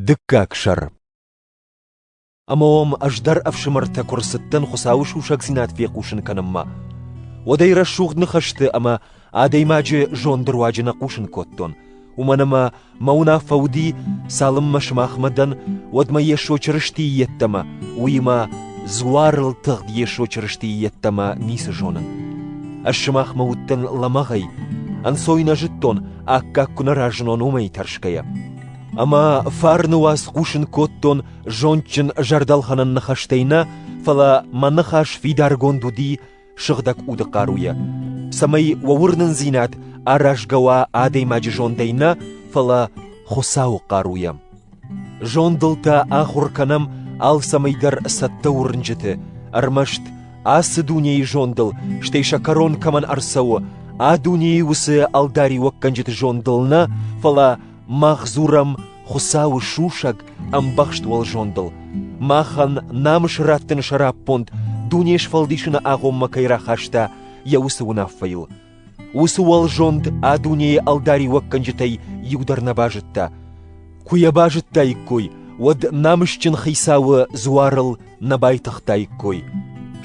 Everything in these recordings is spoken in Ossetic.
Дыккаг сӕр Ӕмӕ уӕм ӕз дӕр ӕфсымӕртӕ куы рцыдтӕн Хуыцауы сусӕгдзинад фехъусын кӕнынмӕ, уӕд ӕй рӕсугъд ныхӕсты ӕмӕ адӕймаджы зонды руаджы нӕ хъусын кодтон, уымӕн ӕмӕ мӕ уынаффӕ уыди, цалынмӕ сымахмӕ дӕн, уӕдмӕ Йесо Чырыстийы йеддӕмӕ, уыимӕ дзуарыл тыгъд Йесо Чырыстийы йеддӕмӕ ницы зонын. Ӕз сымахмӕ уыдтӕн лӕмӕгъӕй, ӕнцой нӕ зыдтон, аккаг куы нӕ разынон уымӕй тӕрсгӕйӕ. Ӕмӕ фарны уац хъусын кодтон зондджын зӕрдӕлхӕнӕн ныхӕстӕй нӕ, фӕлӕ мӕ ныхас фидаргонд уыди сыгъдӕг уды хъаруйӕ, цӕмӕй уӕ уырнындзинад аразгӕ уа адӕймаджы зондӕй нӕ, фӕлӕ Хуыцауы хъаруйӕ. Зондыл та ахуыр кӕнӕм алцӕмӕйдӕр цӕттӕ уырнджыты, ӕрмӕст ацы дунейы зондыл, стӕй сӕ кӕрон кӕмӕн ӕрцӕуы, а дунейы уыцы ӕлдариуӕггӕнджыты зондыл нӕ, фӕлӕ мах дзурӕм Хуыцауы сусӕг, ӕмбӕхст уӕлзондыл. Махӕн намыс раттыны сӕраппонд дуне сфӕлдисыны агъоммӕ кӕй рахаста йӕ уыцы уынаффӕйыл, Уыцы уӕлзонд а дунейы ӕлдариуӕггӕнджытӕй иу дӕр нӕ базыдта. Куы йӕ базыдтаиккой, уӕд намысджын хицауы дзуарыл нӕ байтыгътаиккой.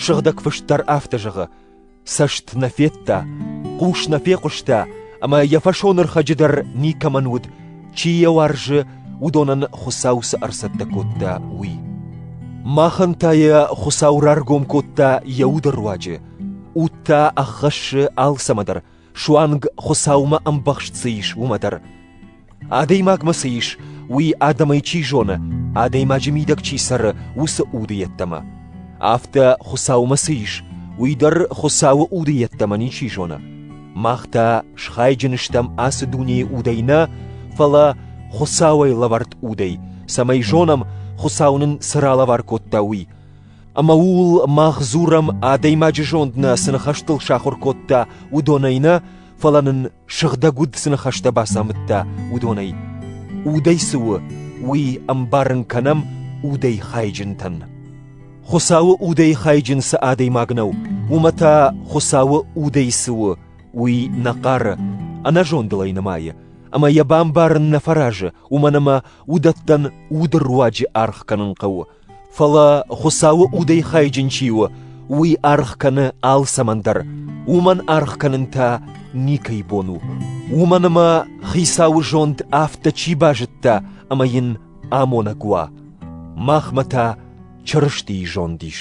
Сыгъдӕг фыст дӕр афтӕ зӕгъы: «Цӕст нӕ федта, хъус нӕ фехъуыста, ӕмӕ йӕ фӕсонӕрхӕджы дӕр никӕмӕн уыд, чи йӕ уарзы, уыдонӕн Хуыцау цы ӕрцӕттӕ кодта, уый». Махӕн та йӕ Хуыцау раргом кодта йӕ уды руаджы, Уд та ӕххӕссы алцӕмӕдӕр, суанг Хуыцаумӕ ӕмбӕхст цы ис, уымӕ дӕр. Адӕймагмӕ цы ис, уый адӕмӕй чи зоны, адӕймаджы мидӕг чи цӕры, уыцы уды йеддӕмӕ. Афтӕ Хуыцаумӕ цы ис, уый дӕр Хуыцауы уды йеддӕмӕ ничи зоны. Мах та схайджын стӕм ацы дунейы удӕй нӕ, фӕлӕ Хуыцауӕй лӕвӕрд удӕй, цӕмӕй зонӕм, Хуыцау нын цы ралӕвар кодта, уый. Ӕмӕ ууыл мах дзурӕм, адӕймаджы зонд нӕ цы ныхӕстыл сахуыр кодта, уыдонӕй нӕ, фӕлӕ нын сыгъдӕг уд цы ныхӕстӕ бацамыдта, уыдонӕй. Удӕй цы у, уый ӕмбарын кӕнӕм удӕй хайджынтӕн. Хуыцауы удӕй хайджын цы адӕймаг нӕу, уымӕ та Хуыцауы удӕй цы у, уый нӕ хъары, ӕнӕзондыл ӕй нымайы, ӕмӕ йӕ бамбарын нӕ фӕразы, уымӕн ӕмӕ уыдӕттӕн уды руаджы аргъ кӕнын хъӕуы, Фӕлӕ Хуыцауы удӕй хайджын чи у, уый аргъ кӕны алцӕмӕн дӕр, уымӕн аргъ кӕнын та никӕй бон у. Уымӕн ӕмӕ Хицауы зонд афтӕ чи базыдта ӕмӕ йын амонӕг уа, махмӕ та Чырыстийы зонд ис.